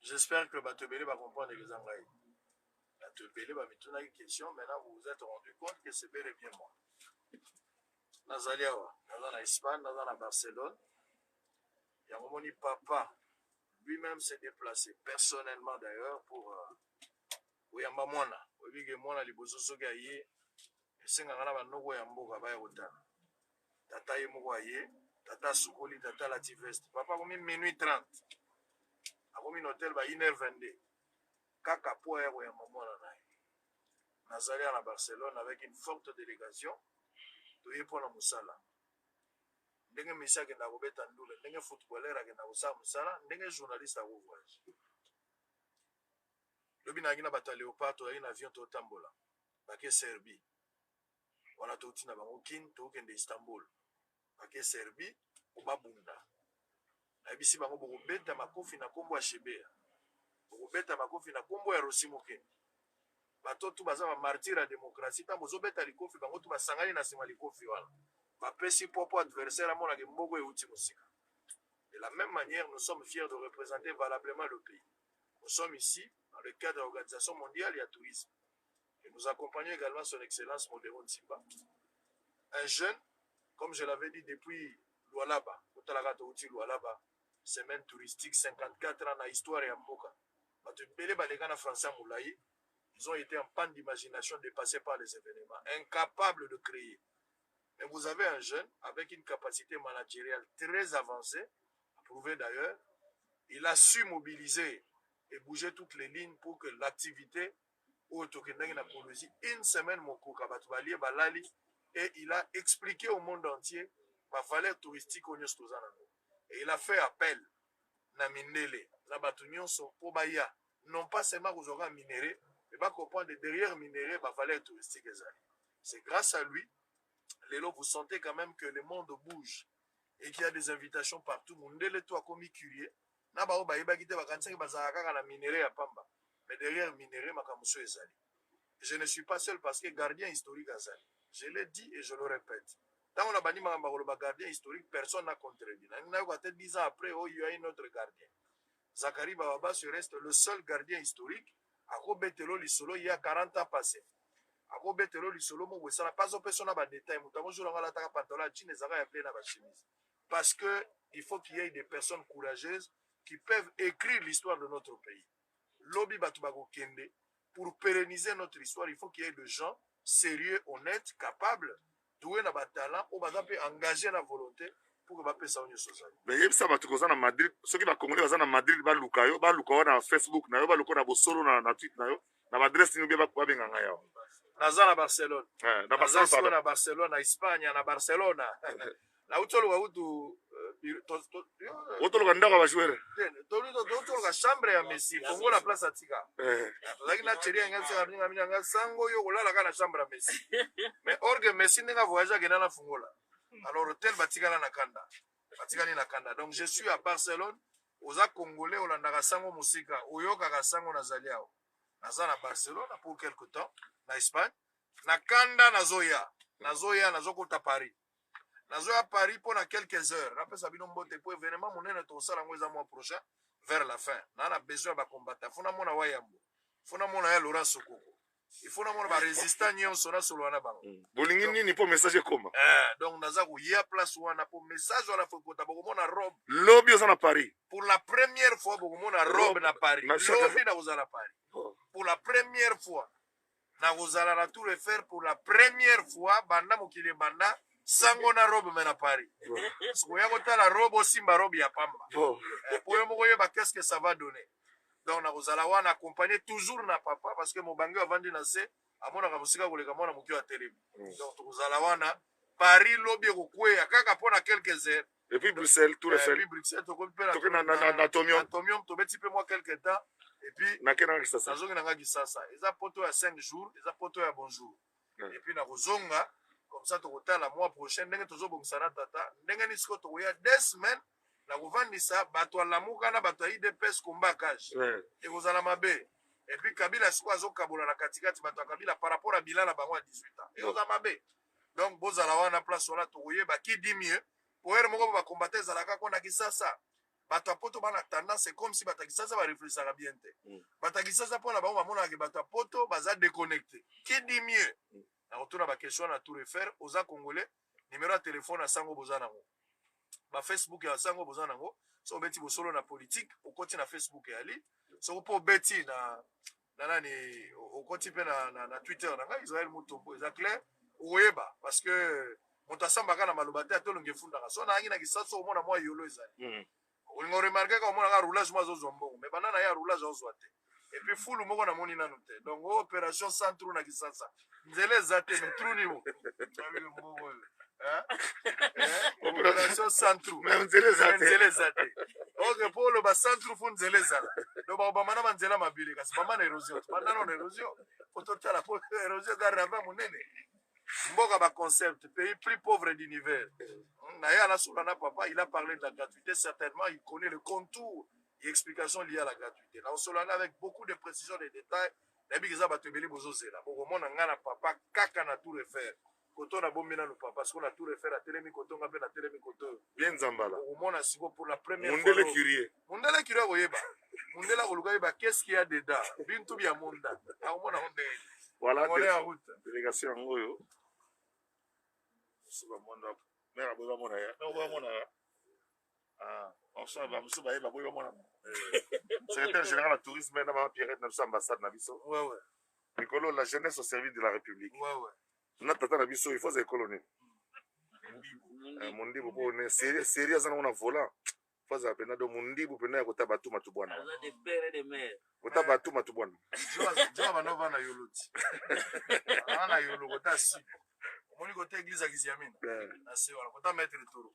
J'espère que bato ebele ba comprendre que eza ngai. Bato ebele bamitunaki question, maintenant vous vous êtes rendu compte que c'est bel et bien moi. Nazali awa, naza na Espagne, naza na Barcelone. Yango moni papa lui-même s'est déplacé personnellement d'ailleurs pour euh, koyamba mwana. Oyebi ke mwana liboso soki aye Esengaka na ba noko ya mboka baya kotala. Tata ye moko aye, tata asukoli, tata alati veste. Papa akomi minuit 30. Akomi na hotel ba 1h22. Kaka po aya koyamba mwana na ye. Nazali awa na Barcelone avec une forte delegation. Toye po na mosala. Ndenge Messi akenda kobeta ndule, ndenge footballeur akenda kosala mosala, ndenge journaliste ako voyage. Lobi nayaki na bato ya Leopard, toyaki na avion totambola. bake Serbie wana touti na bango kin tokokende Istanbul bake Serbie po babunda nayebisi bango bokobeta makofi na kombo ya Shebeya bokobeta makofi na kombo ya Rossy Mukendi bato tout baza ba martyrs ya democratie tango bozobeta likofi bango tout basangani na sima likofi wana bapesi poids po adversaire amona ke mboko euti mosika de la meme manière nous sommes fiers de representer valablement le pays Nous sommes ici dans le cadre ya organisation mondiale ya tourisme et nous accompagnons egalement son excellence Modero Nsimba, un jeune, comme je l'avais dit depuis Lualaba, kotalaka touti Lualaba, semaine touristique 54 ans na histoire ya mboka. Bato ebele baleka na français ya molai, ils ont été en panne d'imagination dépassés par les événements, incapables de créer. Mais vous avez un jeune avec une capacite manageriale très avancee, approuvé d'ailleurs. Il a su mobiliser et bouger toutes les lignes pour que l'activité oyo tokendaki na Colosie une semaine mokoka bato balie balali et il a expliqué au monde entier ba valeur touristique oyo nyonso toza nango et il a fait appel na mindele na bato nyonso mpo baya non pas seulement kozwaka minere mais bacomprendre derrière minere ba valeur touristique ezali C'est grace à lui lelo vous sentez quand même que le monde bouge et qu'il y a des invitations partout mundele to akomi curie na baoyo bayebaki te bakanisaki bazalaka kaka na minere ya pamba mais derrière minere makambo so ezali je ne suis pas seul parce que gardien historique azali je l'ai dit et je le répète ntango na bandi makambo ya koloba gardien historique personne n'a contredit nayoka te 10 ans après oh il y a un autre gardien Zacharie Bababa se reste le seul gardien historique ako betela yo lisolo il ya 40 ans passe ako betela yo lisolo moko esala pas opesa yo na ba detail moto yango jour yango alataka pantalon ya jean ezalaka ya bleu na ba chemise parce que il faut qu'il y ait des personnes courageuses qui peuvent écrire l'histoire de notre pays lobi bato bakokende Pour pereniser notre histoire il faut qu'il y ait de gens serieux, honnetes, capables, douer na ba talents oyo baza pe engager na volonte pour que bapesa yo nioso ozali. Mais yebisa bato koza na Madrid, soki ba Congolais baza na Madrid baluka yo, baluka yo na Facebook na yo, baluka na bosolo na na tweet na yo, na ba adresse nini bien babenga ngai awa. Naza na Barcelone. Eh, na Barcelone pardon. Na Barcelone, na Espagne, na Barcelona. nauti oluka kutu otoloka ndako ya bajouere totoloka chambre ya messi kongo na place atika eh. tozalaki na cheri yange aseka minga mingi yanga sango oyo okolala kaka na chambre ya messi mais orge messi ndenge avoyage akenda na fungola alors hotel batikala na kanda batikali na kanda donc je suis à barcelone oza congolais olandaka sango mosika oyokaka sango nazali awa naza na barcelone pour quelque temps na espagne na kanda nazoya nazoya nazokota paris Nazo ya Paris mpo na quelques heures. Napesa bino mbote mpo evenement monene tokosala yango eza mois prochain vers la fin. Naa na besoin ya ba combattants. Faut namona Wayambo. Faut namona ya Laurent Sokoko. Il faut namona ba resistants nyonso nasolola na bango. Mm. Bolingi Donc- nini mpo message ekoma? Eh, donc naza koya place wana mpo message wana faut ekota bokomona robe Lobi oza na Paris. pour la première fois bokomona robe Robe na paris na shaka- lobi nakozala paris Oh. pour la première fois Nakozala na Tour Eiffel pour la première fois banda mokili ebanda sango na robe me na Paris. Sikoya kotala robe osimba robe ya pamba. Bon. Eh, po yo moko yeba qu'est-ce que ça va donner. Donc nakozala wana accompagné toujours na papa parce que mobange avandi na se amonaka mosika koleka mwana moke ya telemi. Mm. Donc tokozala wana Paris lobi ekokweya kaka mpo na quelques heures Depuis Bruxelles, tout refait. Depuis Bruxelles, tokomi pe na na na na Tomium. Tomium, tobeti pe moi quelque temps. Et puis na kena na Kisasa. Nazongi na nga Kisasa. Eza poto ya 5 jours, eza poto ya bonjour. Et puis na kozonga comme ça tokotala mois prochain ndenge tozobongisa na tata ndenge nini sikoyo tokoya des semaines na kovandisa bato ya lamuka na bato ya idps combat cage ekozala mabe epuis kabila sikoyo azokabola na katikati bato ya kabila par rapport ya bilan na bango ya 18 ans ekozala mabe donc bozala wana place wana tokoyeba qui dit mieux po heure moko ba combattant ezalaka ko na kisasa bato ya poto bana tendance comme si bato ya kisasa bareflechaka bien te mm. bato ya kisasa mpo na bango bamonaka ke bato ya poto baza déconnecte qui dit mieux mm. nakotuna baquestion na tour efer oza congolais numero ya telefone ya sango boza nango bafacebook ya sango boza nango soki obeti bosolo na politike okoti na facebook ya li soki mpo obeti na na nani okoti pe na, na, na twitter na ngai israel mutombo eza clair okoyeba parce que moto asambaka na maloba te atolongi efundaka so nayangi na kisasu okomona mwa yolo ezali mm. olinga oremarke kaka omonaka roulage mo azozwa mbongo me banda na ye roulage azozwa te epuis fulu moko namoni nanu te donc operation centro na kisasa nzela eza te mais trou nimo operation centru nzela eza te ok mpo oloba centru fo nzela ezala donc bakobamba na banzela mabele kasi bamba na érosion tobanda nano na érosion po totala po érosion eza rava monene mboka baconcept pays plus pauvre d'univers naye alasola na papa il a parlé de la gratuité certainement il connaît le contour et explication liée à la gratuité naosolana avec beaucoup de précision de détails nayebi ke eza bato ebele bozozela bokomona ngai na papa kaka na tour efer koto na bombi nanu papa siko na tour efer atelemi koto nga mpe natelemi koto bien nzambala okomona siko pour la première mundele curie mundele curie akoyeba mundele akoluka yeba qu'est-ce qu'il y a dedans bintu bia munda akomona ngo ndenge voilà délégation yango oyo esi bamona mare aboyi bamona ya Ah, Orson, ba musu baye baboyi bamona ngo. Secrétaire général ya tourisme na ba Pierrette na biso ambassade na biso. Ouais, ouais, Likolo la jeunesse au service de la République. ouais, ouais. Na tata na biso il faut ekolo nini? Eh, Mundibu ko ne série série aza na volant. Faza pena do mundibu pena ya kota batu matu bwana. Aza de père et de mère. Kota batu matu bwana. Joa bana bana yolo ti. Bana yolo kota si. Omoni kota église ya Kiziamina. Eh. Na se wana kota maître toro.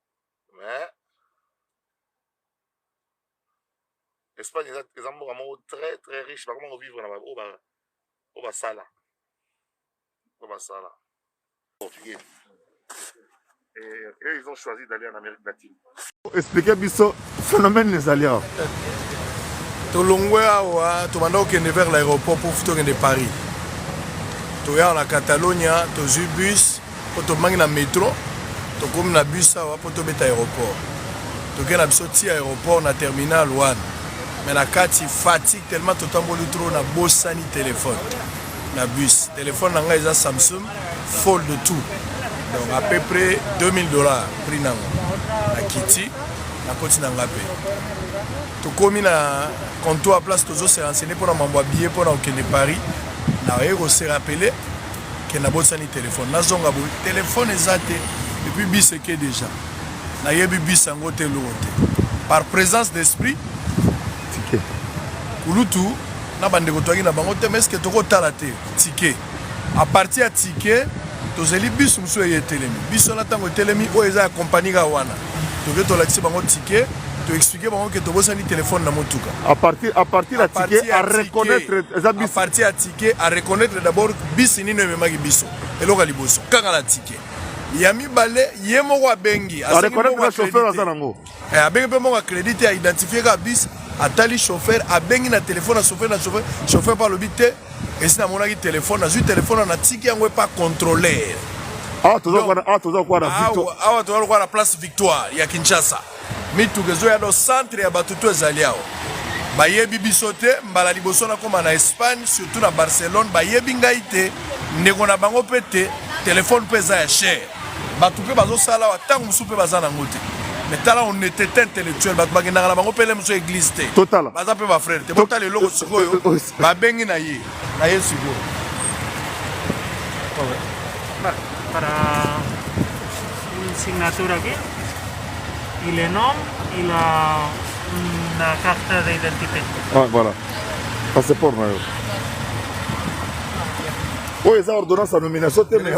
mais espagne eza, eza mboka moko très très riche bakoma kovivre na baoyo ba, oyo basala oyo basala portugais et eux ils ont choisi d'aller en amérique latine expliquer biso phénomène ezali awa tolongwe awa tobanda kokende vers l'aéroport pour tokende paris toya na catalonia tozwi bus mpo tobangi na metro tokomi na bus awa mpo tobeta aéroport tokei na biso ti aéroport na terminal wana me na kati fatigue tellement totamboli trop na bosani telefone na bus telefone na ngai eza samsung fold tout donc à peu près 2000 dollars prix nango na kiti nakoti na nga mpe tokomi na comptoir place tozose renseigne mpo na mambo ya billet mpo na kokende paris naye kose rappele que nabosani telephone nazonga boye telephone eza te epuis bis eke deja nayebi bis yango te eloko te par présence d'esprit tike kulutu na bandeko toyaki na bango te mais eske tokotala te tike a partir ya tike tozeli bis mosusu eye etelemi biso na ntango etelemi oyo eza ya kompani kaka wana toke tolakisi bango ticket to expliquer bango ke tobosani telefone na motuka à partir à partir ya ticket à reconnaître eza bisi à partir ya ticket à reconnaître d'abord bisi nini ememaki biso eloko ya liboso kaka na ticket ya mibale ye moko abengi abengi mpe moko acredit te aidentifie kaka bisi atali chauffeur abengi na telefone ya chauffeur na chauffeur chauffeur mpe alobi te Esi namonaki telefone, nazwi telefone wana natiki yango epa controlere. Awa toza kwa awa toza kwa na Victoire. Awa toza kwa na place Victoire ya Kinshasa. Mituka ezoya do centre ya bato to ezali awa. Bayebi biso te mbala liboso nakoma na Espagne surtout na Barcelone bayebi ngai te ndeko na bango mpe te telefone mpe eza ya cher. Bato mpe bazosala awa ntango mosusu mpe baza nango te mais tala honnêteté intellectuelle bato bakendaka na bango mpe leme so église te totala baza mpe bafrere te botala eloko sikoyo babengi na ye na ye sikoyo para un signature aquí y le nom y la una carta de identidad. Ah, voilà. Passeport na yo. Oyo eza ordonnance ya nomination te mais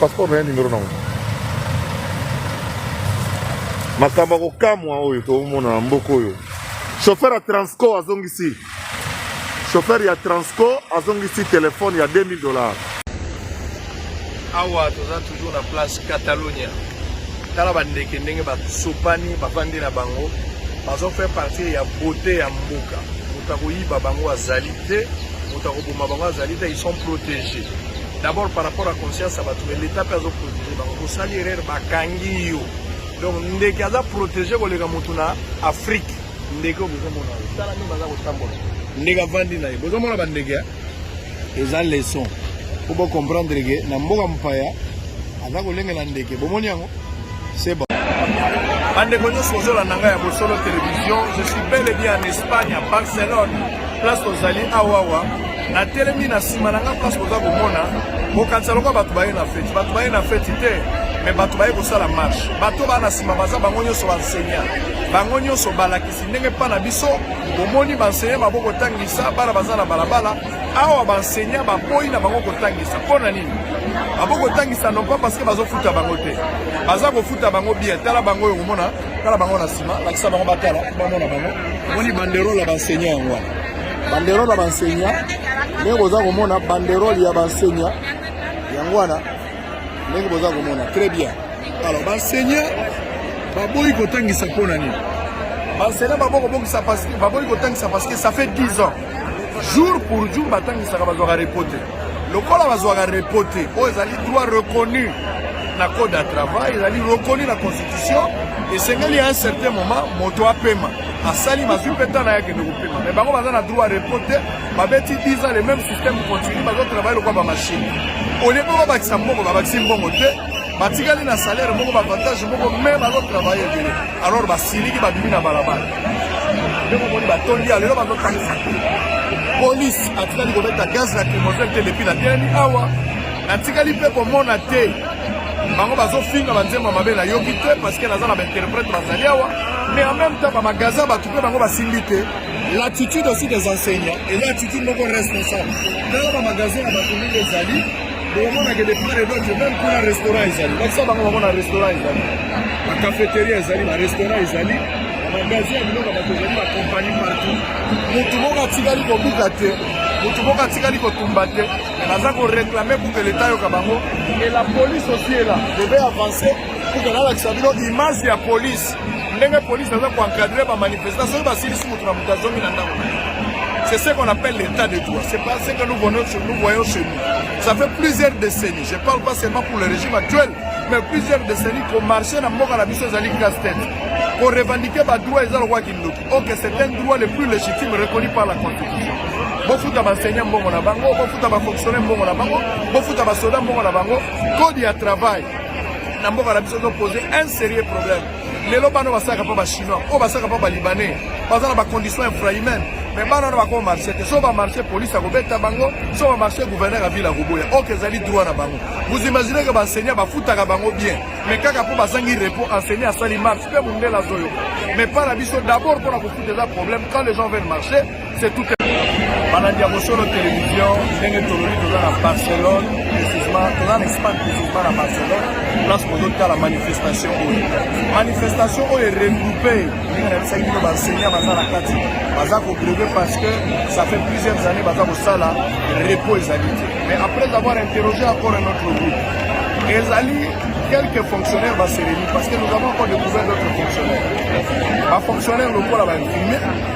Passeport na ye numero nango makambo ya kokamwa oyo tokomona na mboka oyo chauffeur ya transco azongisi chauffeur ya transco azongisi telefone ya 2000 dollars awa toza toujours na place catalonia tala bandeke ndenge basopani bafandi na bango bazo faire partie ya beauté ya mboka moto akoyiba bango azali te moto akoboma bango azali te ils sont protégés D'abord par rapport à conscience ya bato mais l'etat mpe azo protéger bango bosali erreur bakangi yo donc ndeke aza protege koleka motu na afrique ndeke oyo bozomona yo tala nde baza kotambola ndeke avandi na ye bozomona bandeke eza leson mpo bocomprendre ke na mboka mopaya aza kolengela ndeke bomoni yango bandeko nyonso ozolanda ngai ya bosolo television je suis bel et bien en espagne à barcelone place tozali awawa natelemi na nsima na ngai place boza komona bokanisa lokola bato baye na feti bato baye na feti te me bato baye kosala marshe bato baa na nsima baza bango nyonso bansenya bango nyonso balakisi ndenge mpa na biso bomoni bansenya babokotangisa bana baza na balabala awa baenseignant baboyi na bango kotangisa mpo na nini babo kotangisa non pas parce que bazofuta bango te baza kofuta bango bien tala bango oyo komona tala bango na nsima lakisa bango batala bamona bango omoni banderole ya baenseignant yango wana banderole ya baenseignant ndenge boza komona banderole ya baenseignant yango wana ndenge boza komona très bien alors baenseignant baboyi kotangisa mpo na nini baenseignant baboyi kotangisa parce que ça fait 10 ans jour pour jour batangisaka bazwaka repo te lokola bazwaka repo te oyo ezali droit reconnu na code ya travail ezali reconnu na constitution esengeli ya un certain moment moto apema asali mazwi mpe ntango yake nde kopema me bango baza na droit repo te babeti 10 ans le même système continue bazotravaille lokola bamashine olie mpe babakisa mbongo babakisi mbongo te batikali na salaire moko bavantage moko me bazotravaille ebele alors basiliki babimi na balabala ndenge omoni batondi ya lelo bazotangisa te polise atikali kobeta gaz na crimogène te lepi na telemi awa natikali mpe komona te bango bazofinga banzembo mabe nayoki te parceke naza na bainterprète bazali awa mais en même temps bamagasin bato mpe bango basimbi te l'attitude aussi des enseignants eza attitude moko responsable tala bamagasin ya bato ndenge ezali bokomonaka de part et d'autre meme kuna restaurant ezali bakisa bango bamona restaurant ezali bacafeteria ezali barestaurant ezali bamagasin ya biloko bato ezali bakompani partout motu moko atikali kobuka te motu moko atikali kotumba te naza koreklame pour que leta yoka bango et la police aussi est là devait avancer pour que nalakisa bino image ya police ndenge police aza koencadre bamanifestant soki basilisi motu na moto azongi na ndako c'est ce qu'on appelle l'état de droit c'est pas ce que nous voyons chez nous Ça fait plusieurs décennies, je parle pas seulement pour le régime actuel, mais plusieurs décennies qu'on marchait dans Moka la Bissose Zali Castel. Pour revendiquer le droit et le droit qui nous Ok, c'est un droit le plus légitime reconnu par la Constitution. bofuta baenseignant mbongo na bango bofuta bafonctionnaire mbongo na bango bofuta basoda mbongo na bango code ya travail na mboka na biso ezopose un sérieux problème lelo bana basalaka mpo bachinois oyo basalaka mpo balibanais baza na bacondition infrahumaine me bana wana bakoma marché te so bamarché polise akobeta bango so bamarché gouverneur ya ville akoboya oke ezali droit na bango vous imaginez ke baenseignant bafutaka bango bien me kaka mpo bazangi repos enseignant asali marche mpe mondele azoyoka me mpa na biso d'abord mpo na kofuta eza problème quand les gens veulent marcher C'est tout balandi ya bosolo télévision ndenge toloni toza na barcelone précisement toza na espagne précisement na barcelone place bozotala manifestation oyo manifestation oyo eregroupe ndenge nayebisaki bino baenseignant baza na kati baza kogreve parce que ça fait plusieurs années baza kosala repos ezali te mais après avoir interrogé encore un autre groupe ezali quelques fonctionnaires baseleli parce que nous avons encore découvert d'autres fonctionnaires bafonctionnaire lokola bainfirmier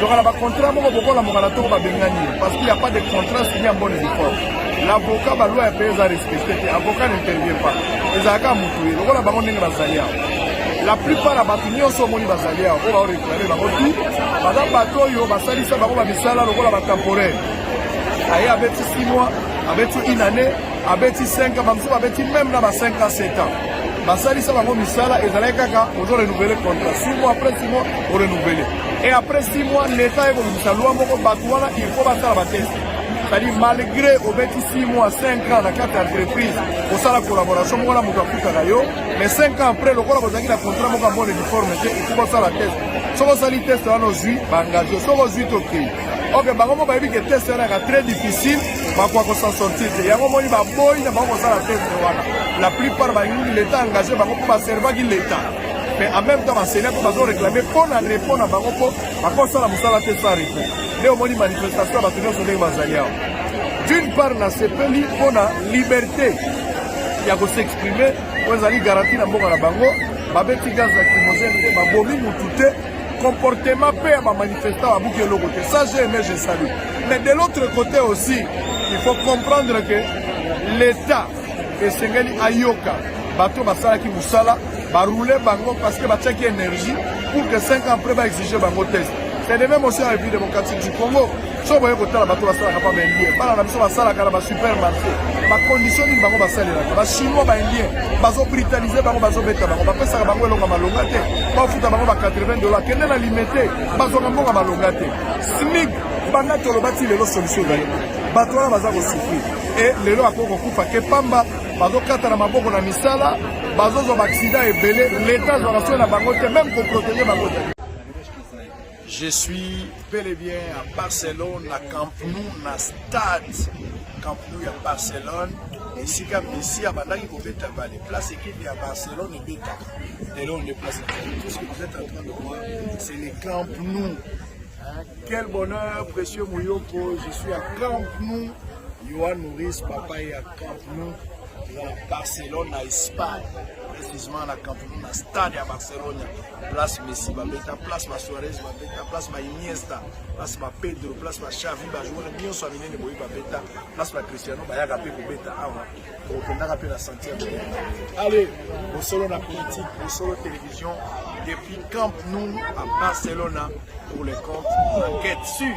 tokala bacontrat moko bokola mokala toko babengani ye parce qu'il n'y a pas de contrat signé en bonne uniforme l'avocat baloi ya mpe eza respecte te avocat n'intervient pas ezalaka motu ye lokola bango ndenge bazali awa la plupart ya bato nyonso omoni bazali awa oyo baoreklame bango tu baza bato oyo basalisa bango bamisala lokola batemporaire aye abeti 6 mois abeti inane abeti 5 ans bamosusu babeti meme na ba 5 ans 7 ans basalisa bango misala ezalaki kaka ozo renouvele contrat 6 mois après 6 mois orenouvele et après 6 mois leta ekobimisa loi moko bato wana il faut basala bateste c'est-à-dire malgré obeti 6 mois 5 ans na kati ya entreprise osala collaboration moko na moto afutaka yo mais 5 ans après lokola bozalaki na contrat moko ya bonne uniforme te il faut basala teste soki osali teste wana ozwi baengagio soki ozwi tokei ok bango moko bayebi ke teste wana yaka très difficile bakoka kosan sortir te yango omoni baboyi na bango kosala teste wana la plupart balingi leta engage bango mpo baservaki leta mais en même temps basenia mpe bazo réclame mpo na repos na bango mpo bakosala mosala te sans repos nde omoni manifestation ya bato nyonso ndenge bazali awa d'une part nasepeli mpo na liberté ya kosexprime oyo ezali garanti na mboka na bango babeti gaz lacrymogène te babomi motu te comportement mpe ya bamanifestant babuki eloko te ça je aimé je salue mais de l'autre côté aussi il faut comprendre que l'état esengeli ayoka bato basalaki mosala baroule bango parce que batiaki énergie pour que 5 ans après baexige bango test c'est de même aussi en république démocratique du congo so boye kotala bato basalaka mpa baindien bana na biso basalaka na basupermarché bacondition nini bango basalelaka bachinois baindien bazobritanise bango bazobeta bango bapesaka bango elonga malonga te bafuta bango ba 80 dollars kende na limete bazwaka mbonga malonga te smig banda toloba ti lelo solution ezali bato wana baza kosufri e lelo akoki kokufa ke pamba bazokata na maboko na misala bazozwa baaksida ebele leta azwaka soki na bango te meme koprotege bango te Je suis bel et bien à Barcelone, na Camp Nou, na stade Camp Nou ya Barcelone. esika messi abandaki kobeta bale place ekipe ya barcelone ebetaka lelo on est place tout ce que vous êtes en train de voir c'est le camp nou quel bonheur précieux moyoko je suis à camp nou yohan nouris papa ye ya camp nou eza na barcelone na espagne précisément na camp nou na stade ya barcelone place Messi babeta place ba Suarez babeta place ba Iniesta place ba Pedro place ba Xavi ba joueur nyonso ya minene boye babeta place ba Cristiano bayaka mpe kobeta awa okendaka mpe na sentier allez bosolo na politique bosolo télévision depuis Camp Nou à Barcelona pour les comptes enquête sur